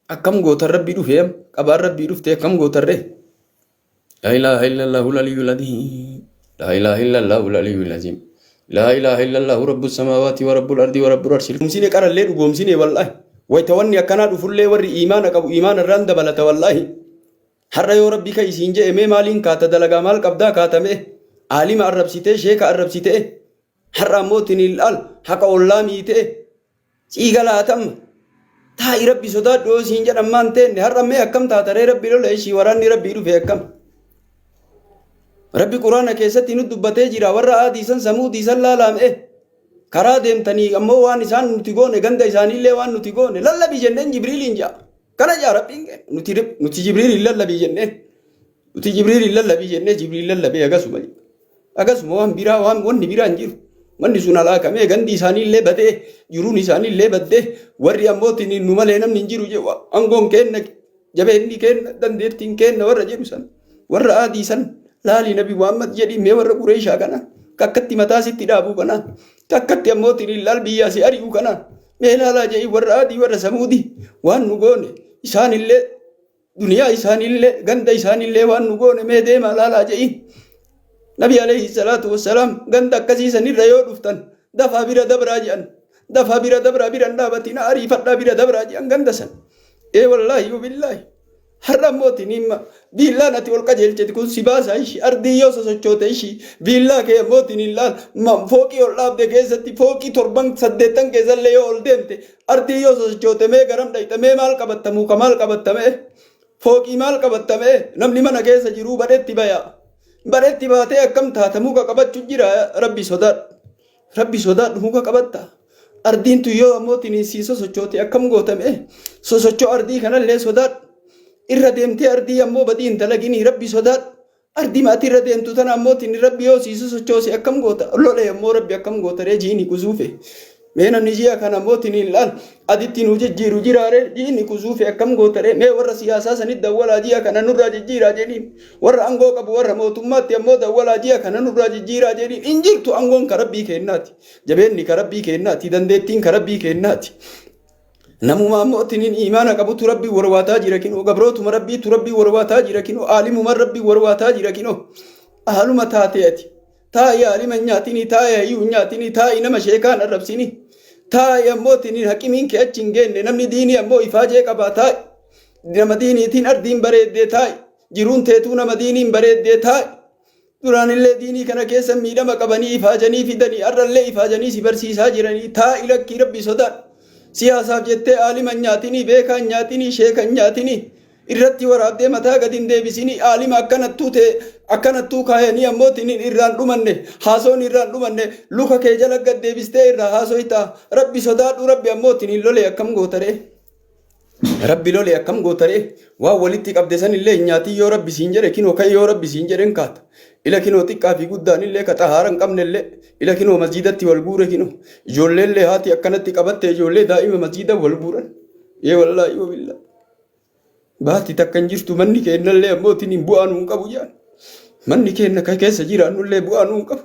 Akkam gootan rabbii dhufee am qabaan rabbii dhuftee akkam gootan ree. Laa ilaaha illallahu laliyyul aziim. Laa ilaaha illallahu laliyyul aziim. Laa ilaaha illallahu rabbus samaawaati wa rabbul ardii wa rabbul arshil. Dhugoomsine qarallee dhugoomsine wallaahi. Wayita wanni akkanaa dhufullee warri iimaana qabu iimaana irraan dabalata wallaahi. Har'a yoo rabbi ka isiin je'e mee maaliin kaata dalagaa maal qabdaa kaatamee aalima arrabsitee sheeka arrabsitee Har'a ammoo tiniil al haqa ollaa miitee sii galaatamma. Taa'i rabbi sodaadhu yoo siin jedhan maan teenne har'a mee akkam taata ree rabbi lola ishii waraanni rabbii dhufe akkam. Rabbi quraana keessatti nu dubbatee jira warra aadii san samuudii san laalaam'e. Karaa deemtanii ammoo waan isaan nuti goone ganda isaaniillee waan nuti goone lallabi jenneen jibriiliin ja'a. Kana ja'a rabbiin nuti jibriiliin lallabi jenneen. Nuti Jibriiliin lallabii jennee Jibriil lallabee agasuma jedha. Agasuma waan biraa waan wanni biraa hin jiru. Manni sun halaakamee gandi isaanii illee badee jiruun isaanii illee baddee warri ammootiin nu malee namni hin jiru jedhu aangoon keenna jabeenni keenna dandeettiin keenna warra jedhu san warra aadii san laalii nabi Muhammad jedhii mee warra qureeshaa kana kakkatti mataa sitti dhaabuu kana kakkatti ammootiin laal biyyaa si ari'uu kana mee laalaa jedhii warra aadii warra samuudii waan nu goone isaan illee duniyaa isaaniillee ganda isaaniillee waan nu goone mee deemaa laalaa je'iin nabi alayhi salaatu wassalaam ganda akkasii sanirra yoo dhuftan dafaa bira dabraa je'an dafaa bira dabraa biran dhaabatina ariifadhaa bira dabraa je'an ganda san ee wallaahi wabillaahi har'a immoo tiniimma biillaan ati ol qajeelchiti kun si baasaa ishii ardii yoo sosochoote ishii biillaa kee immoo tiniin laal fooqii ol dhaabde keessatti fooqii torban saddeettan keessallee yoo ol deemte Ardiin yoo sosochoote mee garam dhayxa mee maal qabatta muka maal qabatta mee fooqii maal qabatta mee namni mana keessa jiruu badhetti baya badhetti baatee akkam taata muka qabachu jira rabbi sodaadhu rabbi sodaadhu muka qabatta ardiin tun yoo ammoo tiniisii sosochoote akkam goota mee sosochoo ardii kanallee sodaadhu irra deemtee ardii ammoo badii hin dalaginii rabbi sodaadhu Ardiima ati irra deemtu tana ammoo tinni rabbi yoo sii sosochoose akkam goota lole ammoo rabbi akkam goota ree jiini kuzuufe mee namni ji'a kana ammoo tiniin laal aditti nuu jijjiiru jiraare jiini kuzuufe akkam goota ree mee warra siyaasaa sanit dawwalaa ji'a kana nurraa jijjiiraa jedhiin warra angoo qabu warra mootummaatti ammoo dawwalaa ji'a kana nurraa jijjiiraa jedhiin hin jirtu angoon ka rabbii keennaati jabeenni ka rabbii keennaati dandeettiin ka rabbii keennaati Namumaa immoo tinin imaana qabutu rabbii warwaataa jira kinoo gabrootuma rabbiitu rabbii warwaataa jira kinoo aalimuma rabbii warwaataa jira kinoo haaluma taatee ati taa'i aalima nyaatini taa'i hayyuu nyaatini taa'i nama sheekaan arrabsini taa'i ammoo tinin haqimiin kee achi hin geenne namni diinii ammoo ifaajee qabaa taa'i nama diiniitiin ardiin bareeddee taa'i jiruun teetuu nama diiniin bareeddee taa'i Duraanillee diinii kana keessa miidhama qabanii ifaajanii fidanii arrallee ifaajanii si barsiisaa jiranii taa'i lakkii rabbi sodaadhu. Siyaasaaf jettee aalima hin nyaatinii, beekaa hin nyaatinii, sheeka hin nyaatinii. Irratti waraabdee mataa gadi hin deebisinii aalima akkanattuu ta'e akkanattuu kaayanii ammoo tinin irraa hin dhumanne haasoon irraa hin dhumanne luka kee jala gad deebistee irraa haasoytaa. Rabbi sodaadhu rabbi ammoo tinin lolee akkam gootaree. Rabbi lole akkam goota ree? Waan walitti qabde san illee hin nyaatin yoo Rabbi siin jedhe kinoo ka'i yoo Rabbi siin jedhe hin kaata. Ila kinoo xiqqaa fi guddaan illee ka xahaara hin qabne illee ila kinoo masjiidatti wal guure kinoo. Ijoollee illee haati akkanatti qabatte ijoollee daa'ima masjiida wal guuran. Ee wallaahi wabillaahi. Baati takka hin jirtu manni keennallee ammoo tiniin bu'aa nuun qabu jedhan. Manni keenna ka keessa jiraannullee bu'aa nuun qabu.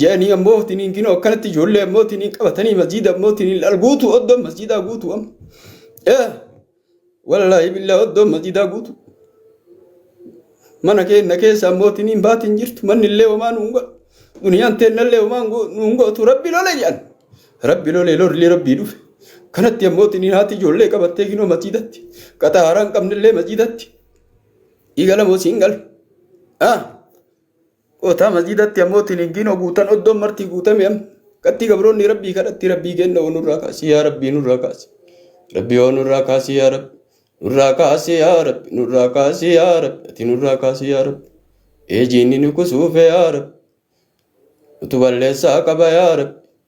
Jedhanii ammoo tiniin kinoo akkanatti ijoollee ammoo tiniin qabatanii masjiida ammoo tiniin al guutuu oddoon masjiidaa guutuu amma. Yaa wallaahi billaa oddoon masjiidaa guutuu. Mana keenna keessa ammoo tiniin baati hin jirtu. Manni illee homaa nu hin godhu. Duniyaan teenna illee homaa hin go- nu hin gootu. Rabbi lole jedhan. Rabbi lole lolli rabbii dhufe. Kanatti ammoo tiniin haati ijoollee qabattee kinoo masiidatti. Qaxaa haaraa hin qabne illee masiidatti. Dhiiga lamoo siin gala. Ah! Kootaa masjiidatti ammoo tiniggiin oguutan oddoon martii guutame am qatti gabroonni rabbii kadhatti rabbii keenna oo nurraa kaasi yaa rabbii nurraa kaasi rabbii oo nurraa kaasi yaa rabbi nurraa kaasi yaa rabbi nurraa kaasi yaa rabbi ati nurraa kaasi yaa rabbi ee jiinni nu kusuufe yaa rabbi utu balleessaa qaba yaa rabbi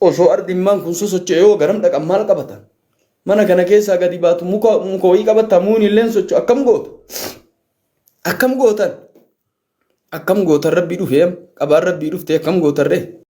Osoo ardi immaan kun sosocho'e hoo garam dhaqan maal qabatan? Mana kana keessaa gadi baatu muka muka wayii qabatta muuni illeen socho akkam goota? Akkam gootan? Akkam gootan rabbii dhufee qabaan rabbii dhuftee akkam gootan ree?